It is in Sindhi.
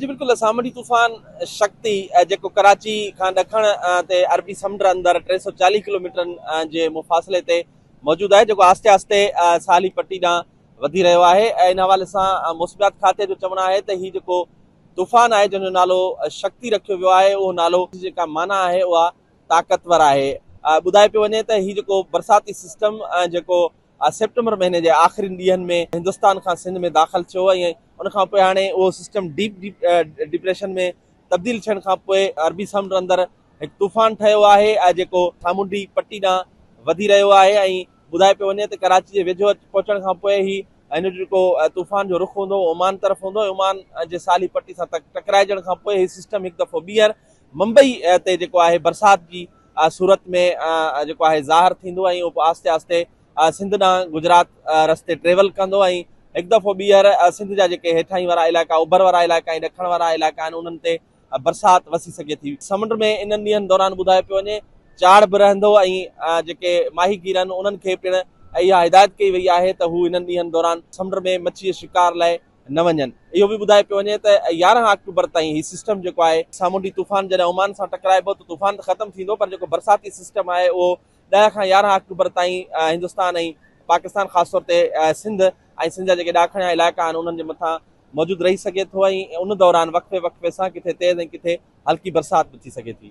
جي بلڪل سامونڊي طوفان شڪتي جيڪو ڪراچي کان ڏکڻ تي عربي سمنڊ اندر ٽي سؤ چاليهه ڪلوميٽرن جي مفاصلي تي موجود آهي جيڪو آهستي آهستي ساحلي پٽي ڏانهن وڌي رهيو آهي ۽ ان حوالي سان موسميات کاتي جو چوڻ آهي ته هي جيڪو طوفان آهي جنهن جو نالو شڪتي رکيو ويو آهي اهو نالو جيڪا معنيٰ آهي اها طاقتور آهي ٻڌايو پيو وڃي ته هي جيڪو برساتي سسٽم جيڪو آء سيپٽمبر مهيني جي آخرين ڏينهن ۾ هندستان کان سنڌ ۾ داخل ٿيو ۽ ان کان پوء هاڻي اهو سسٽم ڊيپ ڊپريشن ۾ تبديل ٿيڻ کان پوء عربي سمنڊ اندر هڪ طوفان ٺهيو آهي ۽ جيڪو سامونڊي پٽي ڏانهن وڌي رهيو آهي ۽ ٻڌائي پيو وڃي ته ڪراچي جي ويجهو پهچڻ کان پوء هي هن جو جيڪو طوفان جو رخ هوندو عمان طرف هوندو ۽ عمان جي سالي پٽي سان ٽڪرائجڻ کان پوء هي سسٽم هڪ دفعو ٻيهر ممبئي تي جيڪو آهي برسات جي صورت ۾ جيڪو آهي ظاهر ٿيندو ۽ اهو آهستي آهستي سنڌ ڏانهن گجرات رستي ٽريول ڪندو ۽ هڪ دفعو ٻيهر سنڌ جا جيڪي هيٺاهين وارا علائقا اوڀر وارا علائقا ۽ ڏکڻ وارا علائقا آهن انهن تي برسات وسي سگهي ٿي. سمنڊ ۾ انهن ڏينهن دوران ٻڌايو پيو وڃي چاڙهه به رهندو ۽ جيڪي ماهي گير آهن انهن کي پڻ اها هدايت ڪئي وئي آهي ته هو انهن ڏينهن دوران سمنڊ ۾ مڇي شڪار لاء نه وڃن. اهو به ٻڌايو پيو وڃي ته يارهن آڪٽوبر تائين هي سسٽم جيڪو آهي سامونڊي طوفان جڏهن عمان سان ٽڪرائبو ته طوفان ته ختم ٿيندو پر جيڪو برساتي سسٽم آهي اهو ڏهه کان يارهن آڪٽوبر تائين هندستان ۽ پاڪستان خاص طور تي سنڌ ۽ سنڌ جا جيڪي ڏاکڻيا علائقا آهن انهن جي مٿان موجود رهي سگهي ٿو ۽ ان دوران وقفي وقفي سان ڪٿي تيز ۽ ڪٿي هلڪي برسات به ٿي سگهي ٿي.